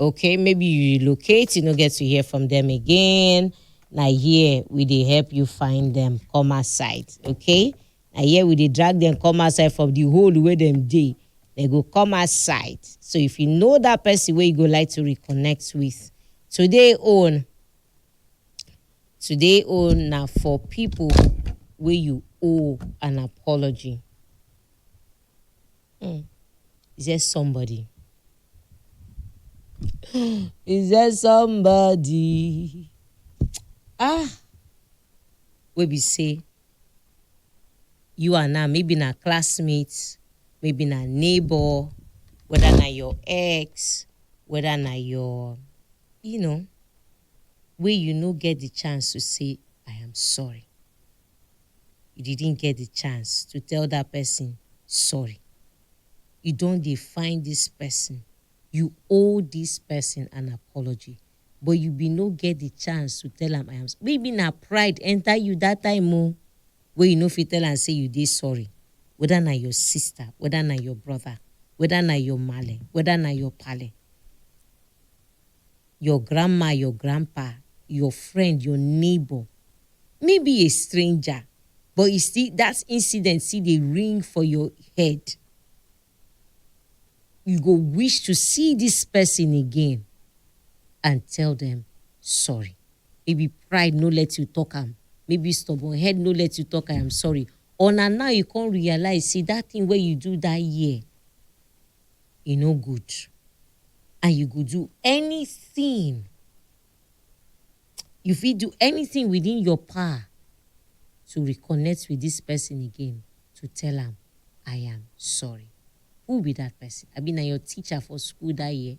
okay maybe you relocate you no get to hear from them again na here we dey help you find them come outside okay na here we dey drag them come outside from the hole wey dem dey they go come outside so if you know that person wey you go like to reconnect with today own today own na for people wey you owe an apology Hmm. Is there somebody? Is there somebody? Ah, wey be say you and na maybe na classmate, maybe na neighbor, whether na your ex, whether na your, you know, wey you no get the chance to say, I am sorry. you didn't get the chance to tell that person sorry. You don dey find this person, you owe this person an apology but you bin no get the chance to tell am I am maybe na pride enter you that time o wey you no fit tell am say you dey sorry whether na your sister, whether na your brother, whether na your maale, whether na your paale. your grandma, your grandpa, your friend, your neighbor, maybe a stranger, but you see that incident see dey ring for your head. You go wish to see this person again and tell them sorry. Maybe pride no let you talk am, maybe stubborn head no let you talk I am sorry. Or na now you come realize say that thing wey you do that year e no good and you go do anything you fit do anything within your power to reconnect with this person again to tell am I am sorry. Who be that person? Abi na your teacher for school that year?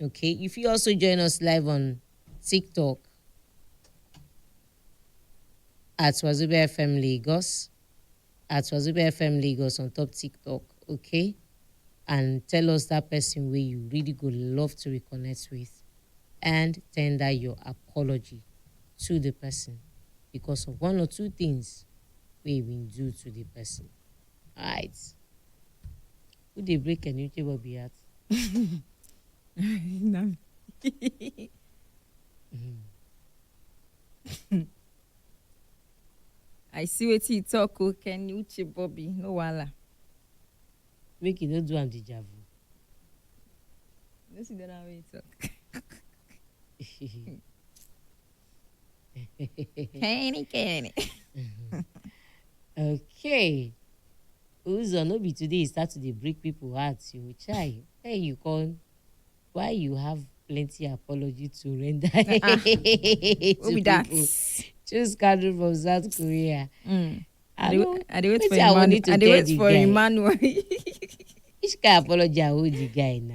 Okay, you fit also join us live on TikTok at Wazobia FM Lagos, at Wazobia FM Lagos on top TikTok, okay? And tell us that person where you really go love to reconnect with and tender your apology to the person because of one or two things we been do to the person. All right. Who dey break Enrique Bobby heart? na me. I see wetin you talk o Kenny Uche Bobby no wahala. Make you no do am deja vu. No see the other one wey you talk. Kenny, Kenny. okay uzo no be today you start to dey break people heart you chai hey you come why you have plenty apology to render to Who be that? people choose candle from south korea Mm. I I dey don't- I dey wait for wetin I wan need Emmanuel. to I dey tell wait the for guy? Emmanuel. which kind apology i owe the guy na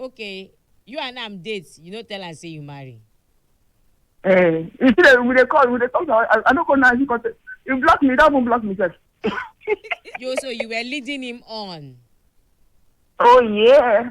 okay you and am date you no tell am say you marry Eh, you see that we dey call, we dey talk. I, I no go now. He got you block me. That one block me sef. you so you were leading him on Oh yeah.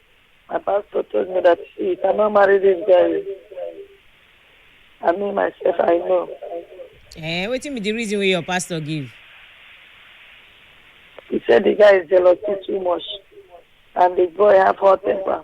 My pastor told me that see, if I not marry this guy, I mean myself, I know. Eh, wetin be the reason wey your pastor give? He said the guy is jealous too much, and the boy have hot temper.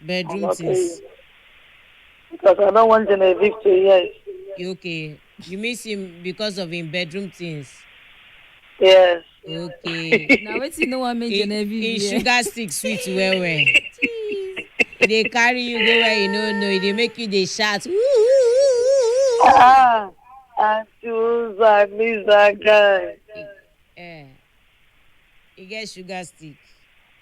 Bedroom Okay. things. Because I don't want to evict to yes. You okay. You miss him because of him bedroom things. Yes. Okay. na wetin no wan make He, genevieve he hear sugar stick sweet well well. Jeez. E dey carry you go where you no know. E dey make you dey shout. "Woo, woo, woo, woo." Ah, and choose I miss that guy. Eh. E get sugar stick.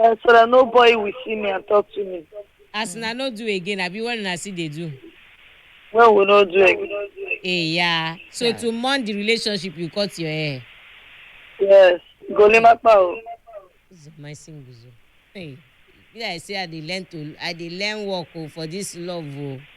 Eh, so that nobody will see me and talk to me. as una no do again abi when una still dey do When we no do again. eya so Yeah. to mourn the relationship you cut your hair Yes. Golimapa o. This is my single zo hey be like say i dey learn to i dey learn work o for this love o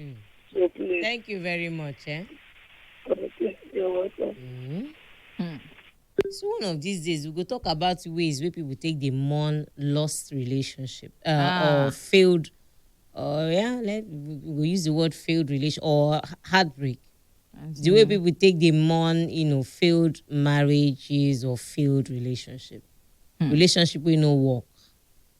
Mm. So please, Thank you very much. Eh? okay, you're welcome. Mm. Mm. So one of these days we go talk about ways wey people take dey mourn lost relationship uh, Ah. or failed or yeah let we we go use the word failed relation or h- heartbreak. The way people take dey mourn you know failed marriages or failed relationship, relationship wey no work.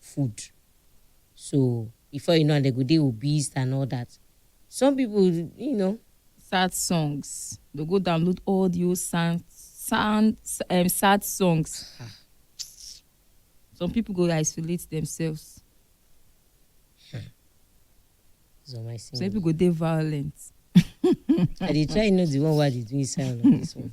food so before you know am dem go dey obese and all that some people you know sad songs dey go download all the old sound sound um, sad songs ah, some people go isolate themselves it's on my some single. people go dey violent I dey try know the one wey I dey do inside all of this one.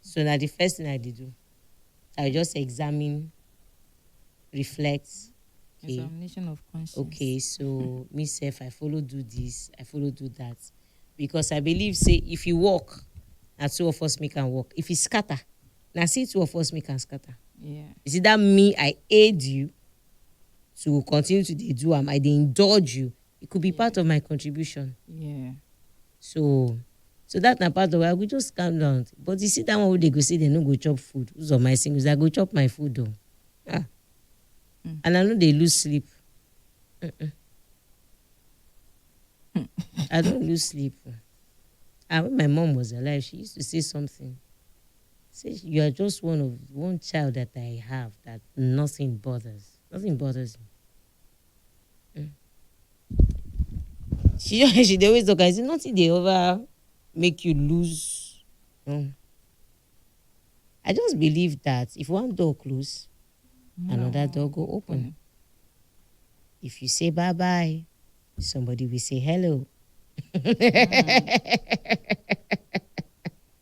So na the first thing I dey do. I just examine, reflect. Okay. Examination of conscience. Okay, so me self, I follow do this, I follow do that. Because I believe, say, if you walk, na two of us make am walk. If you scatter, na see two of us make am scatter. Yeah. You see that me, I aid you to continue to dey do am. I dey indulge you. it could be yeah. part of my contribution. Yeah. So, so that na part of why I go just calm down. But you see that one wey dey go say they no go chop food. Who's on my singles? I go chop my food though. Ah. Mm. And I know they lose sleep. Mm-mm. Hmm. I don't lose sleep. And ah, when my mom was alive, she used to say something. Say you are just one of one child that I have that nothing bothers. Nothing bothers me. she just she dey always talk and say nothing dey ever make you lose mm. i just believe that if one door close another door go open if you say bye bye somebody will say hello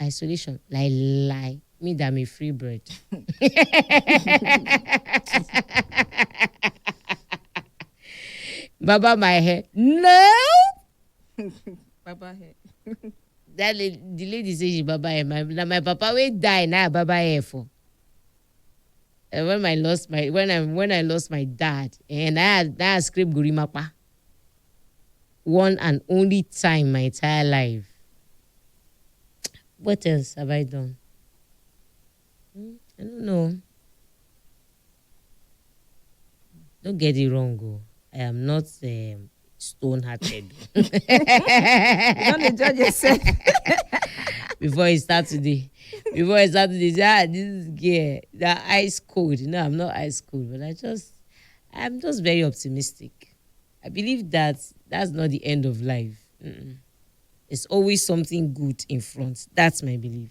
Isolation lai lai me da me free bread. Baba my hair. No. Baba hair. That lady, the lady say she baba hair. My, na my papa wey die na I baba hair for. Eh, when I lost my when I when I lost my dad, eh, na I na I scrape gorimapa. One and only time my entire life. What else have I done? Hmm, I don't know. Don't get it wrong o, I am not um, stone hearted. You don dey judge yourself. before you start to dey before you start to dey say ah this girl na ice cold no i'm not ice cold but i just i'm just very optimistic i believe that that's not the end of life Mm-mm. there's always something good in front that's my belief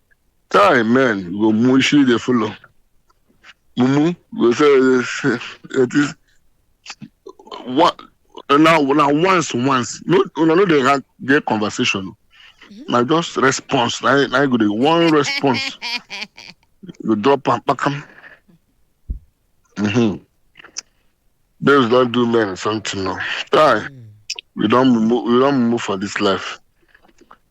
Time men go mushi dey follow. Mumu go say say it is one na na once once no una no dey rank get conversation na just response na na go dey one response you drop am kpakam. Mm-hmm. Babes don do men something now. Time we don mumu we don mumu for this life.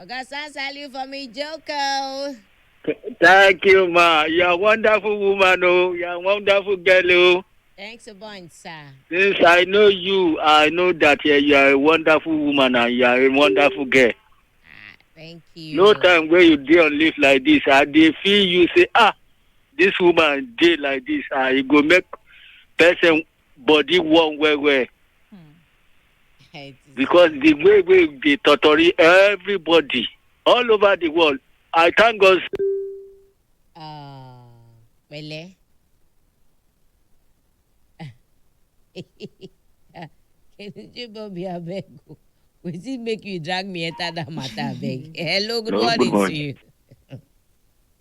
Oga San Saliu for me Joko. Thank you, ma. You are wonderful woman, oh. You are wonderful girl, oh. Thanks a bunch, sir. Since I know you, I know that eh, you are a wonderful woman and you are a wonderful girl. Ah, thank you. No time where you dey on leave like this, I dey feel you say, ah, this woman dey like this, ah, e go make person body warm well well It is- because the way wey dey totori everybody all over the world i thank god say Ah, pẹ̀lẹ́. Kenuje Bobby abeg o. Wetin make you drag me enter that matter abeg? Hello, good Hello, good morning to morning. you.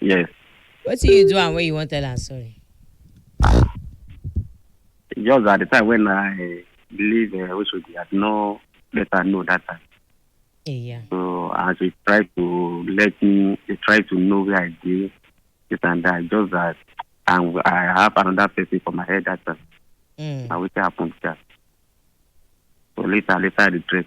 Yes. wetin you do am wey you wan tell am sorry. Just at the time when I leave uh, Oshodi, I did not let her know that time. eya So as we try to let me, they try to know where I dey, this and that. Just that, and I have another person for my head that time. mm. Now wetin happen be that. So later, later I regret.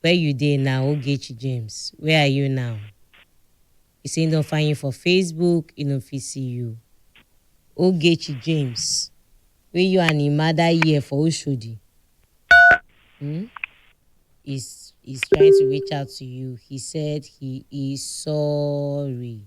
Where you dey now Ogechi James where are you now He say he don find you for Facebook he no fit see you Ogechi James wey you and him mother here for Oshodi hmm is is trying to reach out to you he said he is sorry.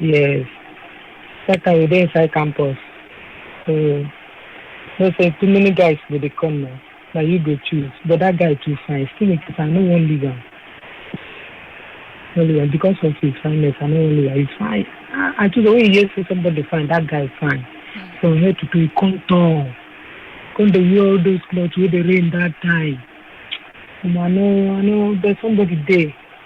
Yes. That time we dey inside campus. So no say too many guys go dey come now. Na you go choose. But that guy too fine. Still in case I no wan leave am. No leave am because of his fineness. I no wan leave am. He's fine. I, I choose when you hear say somebody fine, that guy is fine. From head to toe, he come tall. Come dey wear all those clothes wey dey rain that time. Omo, I no, I no, but somebody dey.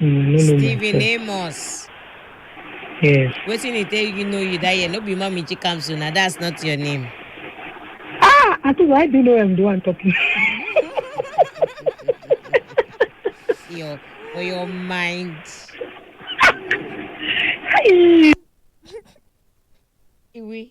Mm, no know Stephen myself. Amos. Yes. Wetin he tell you know you that year? No be mommy Chikamsu na that's not your name. Ah, I think why do you know I'm the one talking? Your for your mind. Hey. Iwi.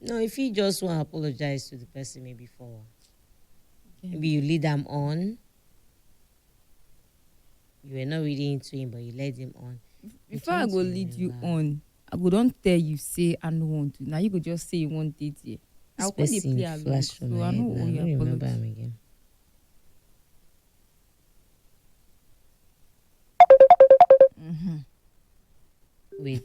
No, if you just want to apologize to the person maybe for maybe you lead them on. You were not really into him, but you led him on. before i can't go lead you remember. on i go don tell you say i no want to na you go just say you wan dey there i This go come dey person play along flash so from i my head no now. owe I you don't remember apology him again. Mhm. Wait.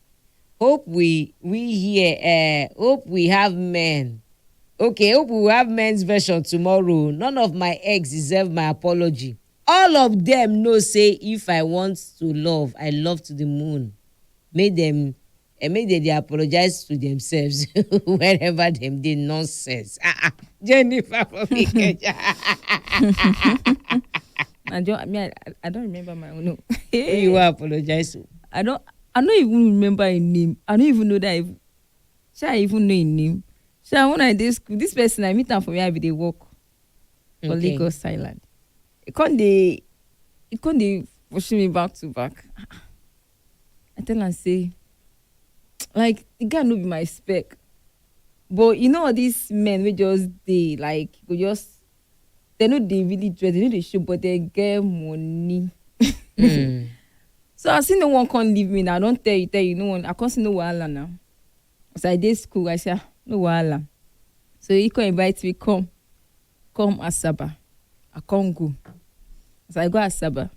hope we we hear eh hope we have men okay hope we will have men's version tomorrow none of my ex deserve my apology all of them know say if i want to love i love to the moon make them eh, make they dey apologize to themselves wherever them dey nonsense ah ah jennifer for me keja I don't. I mean, I, I don't remember my own. No. who you wan apologize to. I don't. I no even remember im name. I no even know that even shey I even know im name. Sha when I dey school, this person I meet am for where I be dey work for Okay. Lagos Island. He come dey he come dey pursue me back to back. I tell am say like the guy no be my spec. But you know all these men wey just dey like go just dem no dey really dress dem no dey show but dem get money Mm. so as you no wan come leave me na i don tell you tell you no wan i come say no wahala na as i dey school i say ah no wahala so he come invite me come come asaba i come go as i go asaba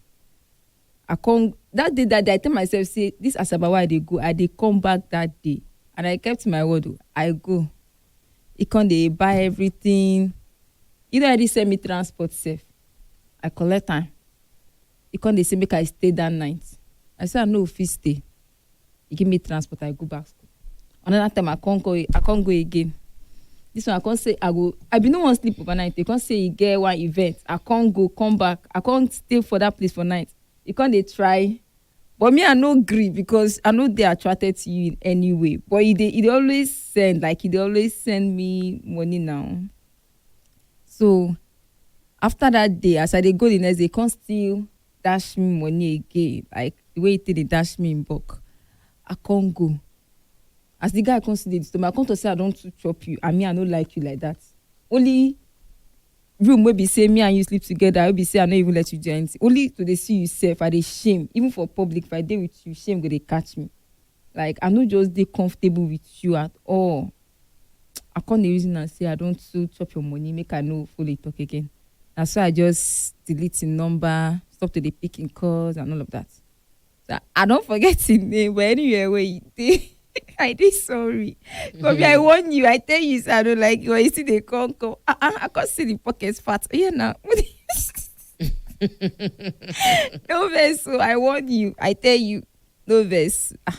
i come that day that day i tell myself say this asaba wey i dey go i dey come back that day and i kept my word o i go e come dey buy everything e don already send me transport sef i collect am e come dey say make i stay that night i say i no fit stay e give me transport i go back school another time i come go i come go again this one i come say i go i bin no wan sleep overnight e come say e get one event i come go come back i come stay for that place for night e come dey try but me i no gree because i no dey attracted to you in any way but e dey e dey always send like e dey always send me money now so after that day as i dey go the next day e come still dash me money again like the way e take dey dash me in bulk i come go as the guy come still dey disturb me i come talk say i don too chop you and me i no like you like that only room wey be say me and you sleep together wey be say i no even let you do anything only to dey see you sef i dey shame even for public if i dey with you shame go dey catch me like i no just dey comfortable with you at all i come dey reason am say i don too chop your money make i no follow you talk again na so i just delete him number stop to dey pick him calls and all of that i don forget him name but anywhere wey you dey i dey sorry kobe i warn you i tell you say i no like you but you still dey come come ah ah i come see the pocket fat oya na no vex o i warn you i tell you no vex ah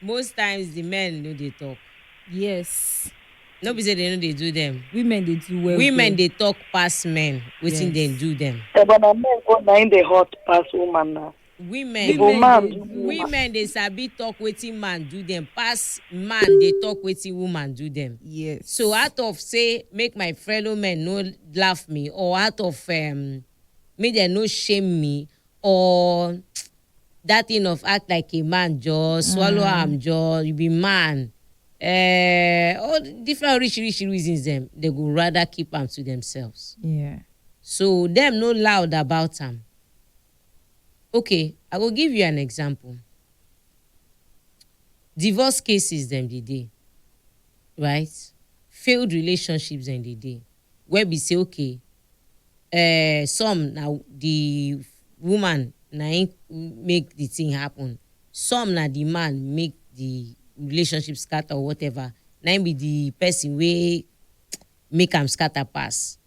Most times the men no dey talk. Yes. No be say they no dey do them. Women dey do well. Women well. dey talk pass men. Wetin yes. dem do them. Eba na men go na im dey hot pass woman na. Women, women, dey, women dey sabi talk wetin man do them pass man dey talk wetin woman do them. Yes. So out of say make my fellow men no laugh me or out of um, make dem no shame me or that thing of act like a man jọ swallow am jọ you be man uh, all the different oríṣiríṣi reasons dem they go rather keep am to themselves Yeah. so dem no loud about am okay i go give you an example divorce cases dem dey dey right failed relationships dem dey dey wey be say okay um some na the woman na him make the thing happen some na the man make the relationship scatter or whatever na him be the person wey make am scatter pass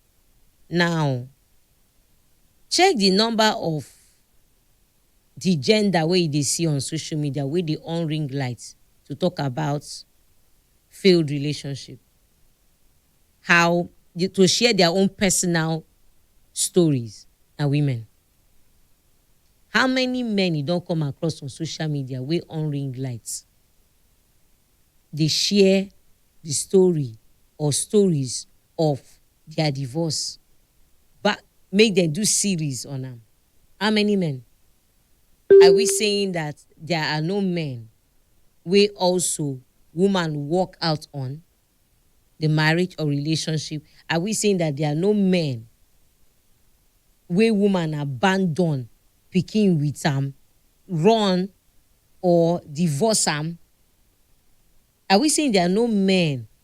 now check the number of the gender wey you dey see on social media wey dey on ring light to talk about failed relationship. how to share their own personal stories na women. How many men you don come across on social media wey on ring light dey share the story or stories of their divorce but make dem do series on am how many men are we saying that there are no men wey also woman work out on the marriage or relationship are we saying that there are no men wey woman abandon pikin with am run or divorce am are we saying there are no men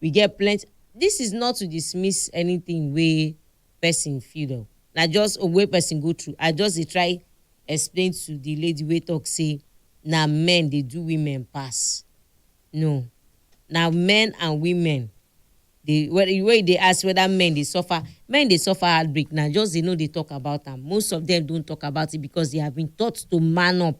We get plenty This is not to dismiss anything wey person feel o. Na just oh, wey person go through. I just dey try explain to the lady wey talk say na men dey do women pass. No. Na men and women dey wey wey you dey ask whether men dey suffer, men dey suffer heartbreak na just they no dey talk about am. Most of them don't talk about it because they have been taught to man up.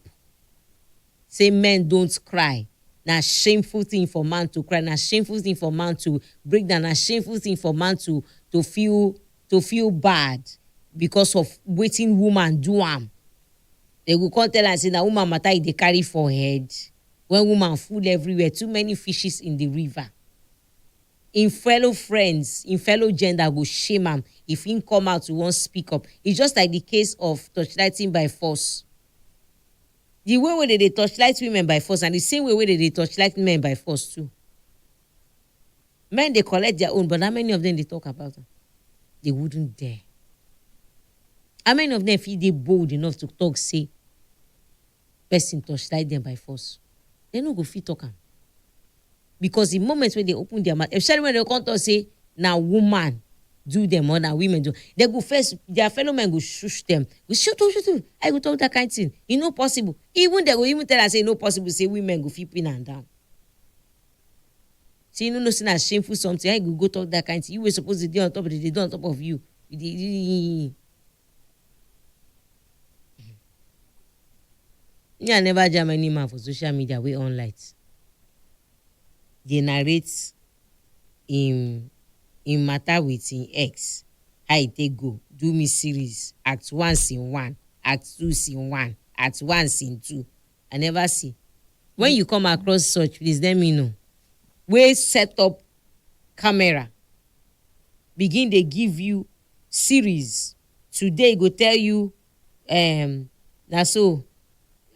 Say men don't cry, na shameful thing for man to cry, na shameful thing for man to break down, na shameful thing for man to to feel to feel bad because of wetin woman do am. Dem go come tell am say na woman matter e dey carry for head when woman full everywhere, too many fishes in the river. Im fellow friends, im fellow gender go shame am if im come out to wan speak up. It's just like the case of torchlighting by force. Di way wey dem dey torchlight women by force na di same way wey dem dey torchlight men by force too. Men dey collect dia own but how many of dem dey tok about am? Dey wouldn't dare. How many of dem fit dey bold enough to tok say pesin torchlight dem by force? Dem no go fit tok am. because the moment wey dem open their mouth especially when dem come talk say na woman do them or na women do they go first their fellow men go shush them go shut up shut up i go talk that kind thing e no possible even they go even tell am say e no possible say women go fit pin am down say you no know say na shameful something how you go go talk that kind thing you wey suppose dey dey on top of the dey dey on top of you you dey me i never jam any man for social media wey on light dey narrate im im matter with im ex how e take go do me series act one scene one act two scene one act one scene two I never see. When you come across such, please let me know. Wey set up camera, begin dey give you series. Today e go tell you um, na so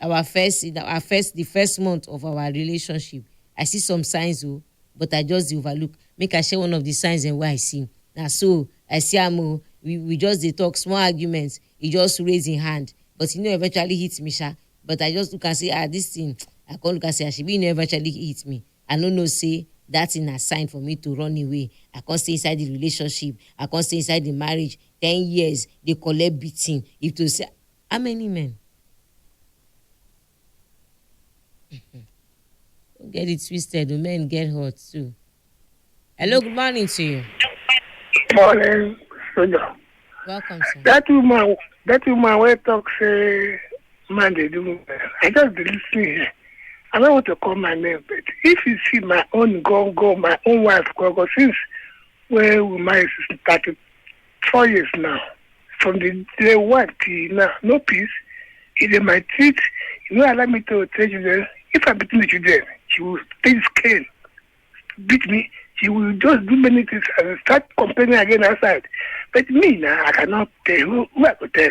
our first our first the first month of our relationship. I see some signs o, but I just dey overlook. Make I share one of the signs dem wey I see. Na so I see am o. We we just dey talk small arguments. he just raise him hand but he no eventually hit me sha but i just look am say ah this thing i come look am say ah shebi you no eventually hit me i no know say that thing na sign for me to run away i come stay inside the relationship i come stay inside the marriage ten years dey collect beating if to say how many men Don't get it twisted, the men get hot too. Hello, good morning to you. Morning, Soja. Welcome, sir. That woman, that woman where talk say man they do well. I just dey listen here. I don't want to call my name, but if you see my own go go, my own wife go go since where we married since thirty four years now from the day one till now no peace e dey my teeth e no allow me to tell children if i beat my children she will take his cane beat me she will just do many things and start complaining again outside but me na i cannot tell who who i go tell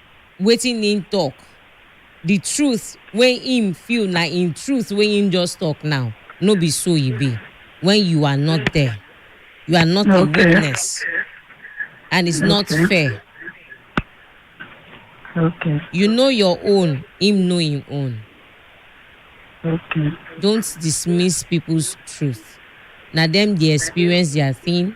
wetin im tok, di truth wey im feel na im truth wey im just tok now, no be so e be wen you are not there, you are not a witness and it's not fair. Okay. You know your own, im know im own. Okay. Don't dismiss people's truth, na dem dey experience their thing.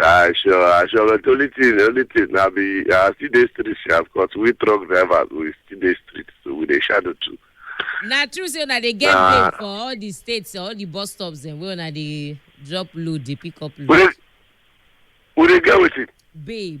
I sure, I sure. But the only thing, the only thing, I be, I still dey street, sha, because we truck drivers, we still dey street, so we dey shadow too. na true say una dey get Nah. babe for all the states all the bus stops dem wey una dey drop load dey pick up We load dey, we dey get wetin? babe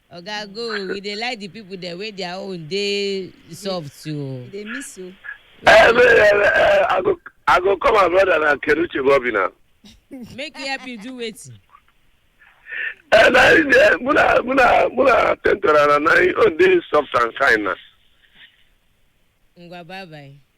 Oga go we dey like the people dem wey their own dey soft o. You dey miss o. Eh, eh, eh, eh, I go, I go call my brother na Keruche Bobby na. Make e help you do wetin. Eh, na him dey, muna, muna, muna attend to am na, na him own dey soft and kind na. Ngwa bye bye.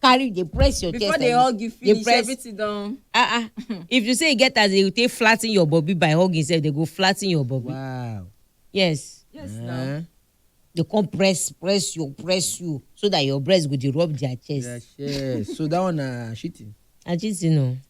carry dey press your chest before dey hug you finish press, everything don. ah ah if you say you get as dey take flatten your body by hugging sef dey go flatten your body. wow yes. yes uh -huh. na. Eh? dey come press press you press you so that your breast go dey rub their chest. their chest so that one na uh, cheating. na cheating o. No.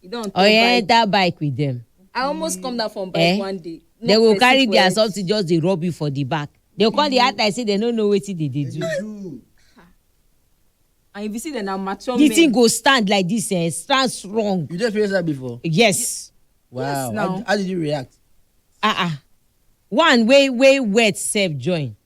You don't talk oye bike. enter bike with them I almost come down from bike Eh? one day. No they go person carry their collect. something just dey rub you for the back they come dey act like say they no know wetin they dey do do. And if you see them, now mature the men. thing go stand like this eh stand strong you dey experience that before. yes wow now. how, how did you react. ah ah one wey wey wet sef join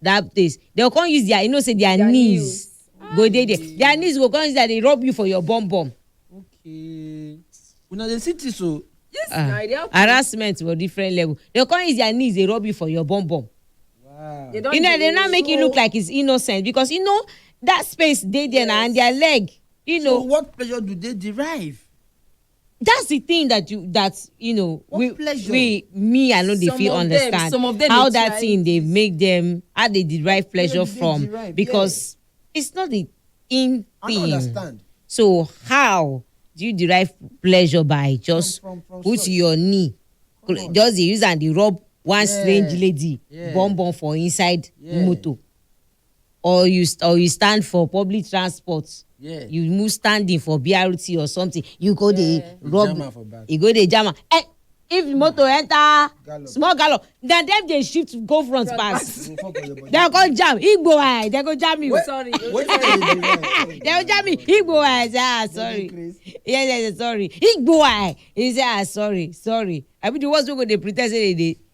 that place they go come use their you know say their, Their knees nails. go dey there Aye. their knees go come use that dey rub you for your bum bum okay una dey see this o yes Ah, na e dey happen harassment for different level they go come use their knees dey rub you for your bum bum wow They don you know they dey now make you look show- like it's innocent because you know that space dey there na and their leg you so know what pleasure do they derive that's the thing that you that you know What we, pleasure? we me i no dey Some fit of them- understand some of them how dey that try thing dey make them how they derive pleasure they from derive, because it's not the in I don't thing understand. so how do you derive pleasure by just from- from put source. your knee Come on. just dey use am dey rub one Yeah. strange lady Yeah. bum bum for inside Yeah. motor or you st- or you stand for public transport Yeah. you move standing for brt or something you go dey Yeah. You rub jam am for back. you go dey jam am eh if motor enter Gallop. small gallop na dem dey shift go front Front pass Go fall for your body. dem go jam igbo eye dem go jam you Wait, Sorry. wait, wait, wait, wait. dem go jam you igbo eye say ah sorry Grace. yes yes yes, sorry igbo eye he say ah sorry sorry i be the ones wey go dey pre ten d say they dey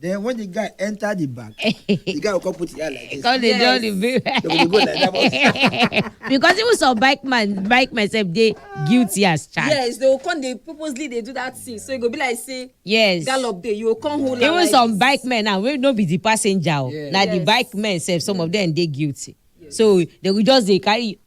Then when the guy enter the bank, the guy will come put his hand like this. Come dey Yes. draw the bill. They will go like that. but- because even some bike man bike man sef dey guilty as charged. yes they go come dey purposely dey do that thing so e go be like say yes. gallop dey you go come hold am even like some this. bike men now wey no be the passenger o Yeah. na the Yes. bike men sef some of them dey guilty so they go just dey carry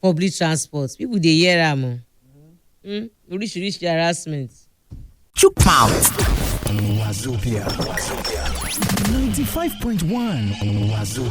public transport people dey hear am o Mm, oríṣiríṣi harassment. Chook mouth. Wazobia. 95.1 Wazobia.